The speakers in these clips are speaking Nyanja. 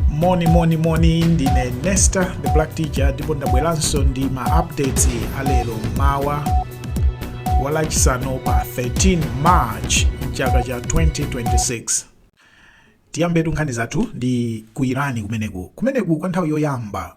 moni moni moni ndine nesta the black teacher ndipo ndabweranso ndi ma updates alero mmawa walachisanu pa 13 march mchaka cha 2026 tiyambetu nkhani zathu ndi ku irani kumeneku kumeneku kwa nthawi yoyamba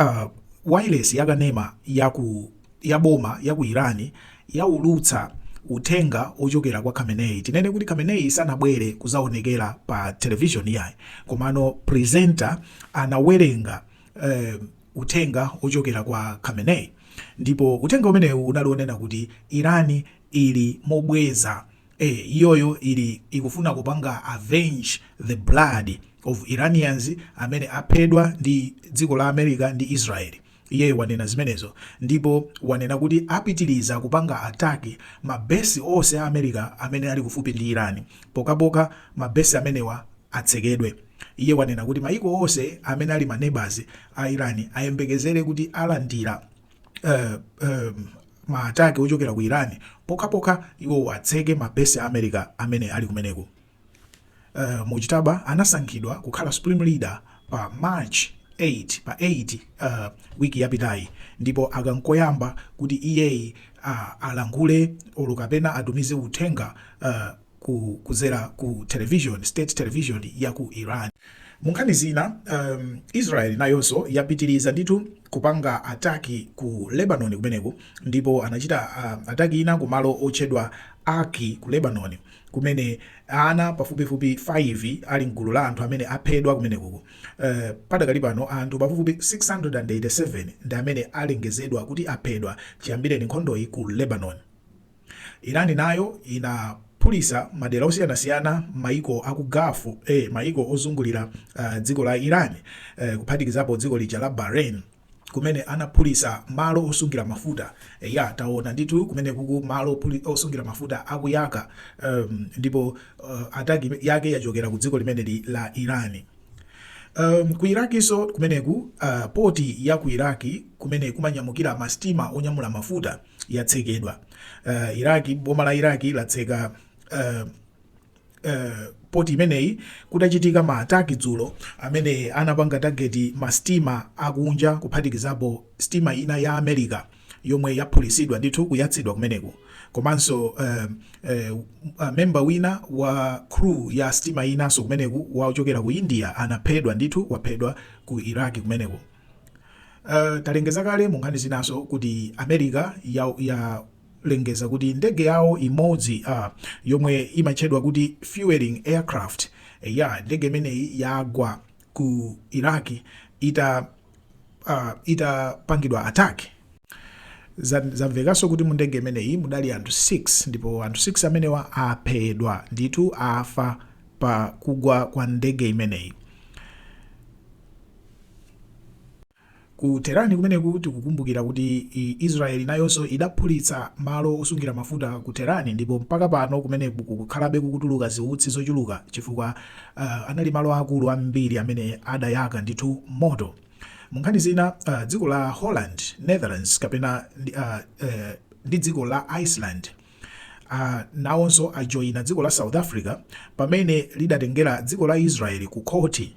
Uh, wailesi yakanema yaku ya boma ya ku Iran yaulutsa uthenga ochokera kwa Khamenei. Tinene kuti Khamenei sanabwere kuzaonekera pa television yayi, komano presenter anawerenga uh, uthenga ochokera kwa Khamenei ndipo uthenga umenewu unali onena kuti Irani ili mobweza ee iyoyo ili ikufuna kupanga avenge the blood of Iranians amene aphedwa ndi dziko la America ndi Israel iyeyo wanena zimenezo ndipo wanena kuti apitiliza kupanga attack ma base ose a America amene ali kufupi ndi Iran pokapoka ma base amenewa atsekedwe iye wanena kuti maiko ose amene ali ma neighbors a Iran ayembekezele kuti alandila uh, um, ma attack ochokera ku Iran pokhapokha iwowo atseke ma base a America amene ali kumeneko. Uh Mojtaba anasankhidwa kukhala supreme leader pa March 8 pa 8 uh week yapitayi ndipo aka nkoyamba kuti iyeyi uh alankhule olo kapena atumize uthenga uh ku kudzera ku television, state television ya ku Iran. Munkhani zina, um, Israel nayonso yapitiriza ndithu kupanga ataki ku Lebanon kumeneku ndipo anachita uh, ataki ina ku malo otchedwa Aki ku Lebanon kumene ana pafupifupi 5 ali mgulu la anthu amene aphedwa kumeneku. Uh, padakali pano anthu pafupifupi 687 ndi amene alengezedwa kuti aphedwa chiyambireni nkhondoyi ku Lebanon. Iran nayo inaphulisa madera osiyanasiyana mmaiko aku Gulf a maiko ozungulira dziko la Iran kuphatikizapo dziko lija la Bahrain kumene anaphulisa malo osungira mafuta eya taona ndithu kumenekuku malo osungira mafuta akuyaka ndipo attack yake yachokera ku dziko limeneli la Iran ku Iraqso kumeneku port ya ku Iraq kumene kumanyamukira ma stima onyamula mafuta yatsekedwa. Uh, Iraq, boma la Iraq latseka uh, uh, poti imeneyi kutachitika ma ataki dzulo amene anapanga tageti ma stima akunja kuphatikizapo stima ina ya America yomwe yaphulisidwa ndithu kuyatsidwa kumeneko komanso uh, uh, uh, memba wina wa crew ya stima inanso kumeneku wochokera ku India anaphedwa ndithu waphedwa ku Iraq kumeneko Uh, talengeza kale mu nkhani zinaso kuti america ya, yalengeza kuti ndege yawo imodzi uh, yomwe imatchedwa kuti fueling aircraft eh, ya ndege imeneyi yagwa ku iraq ita uh, itapangidwa attack zamvekanso kuti mu ndege imeneyi mudali anthu 6 ndipo anthu 6 amenewa aphedwa ndithu afa pa kugwa kwa ndege imeneyi Ku Tehran kumeneku, tikukumbukira kuti Israel nayonso idaphulitsa malo osungira mafuta ku Tehran ndipo mpaka pano kumeneku kukukhalabe kukutuluka ziutsi zochuluka chifukwa anali malo aakulu ambiri amene adayaka ndithu moto. Mu nkhani zina, dziko la Holland, Netherlands kapena ndi dziko la Iceland nawonso ajoina dziko la South Africa pamene lidatengera dziko la Israel ku khothi.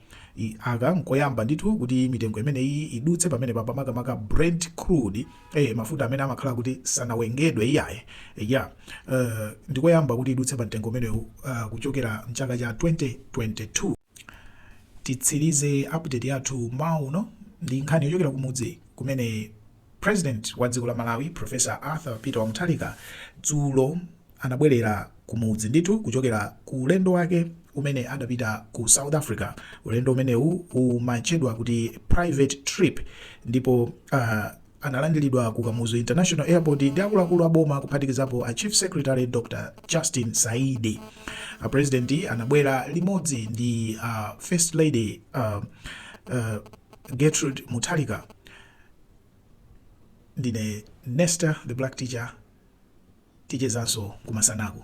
I, aka nkoyamba ndithu kuti mitengo imeneyi idutse pamenepa makamaka brent crude eh, mafuta amene amakhala kuti sanawengedwe iyaye ya uh, ndikoyamba kuti idutse pa mtengo umenewu uh, kuchokera mchaka cha 2022 titsirize update yathu mauno ndi nkhani yochokera kumudzi kumene President wa dziko la Malawi Professor Arthur Peter wa Mutharika dzulo anabwerera kumudzi ndithu kuchokera ku ulendo wake umene adapita ku South Africa, ulendo umenewu umatchedwa kuti private trip ndipo uh, analandiridwa ku Kamuzu International Airport ndi akuluakulu a boma kuphatikizapo a Chief Secretary Dr. Justin Saidi. A President anabwera limodzi ndi uh, First Lady uh, uh, Gertrude Mutharika Ndine Nesta the black teacher tichezanso kumasanaku.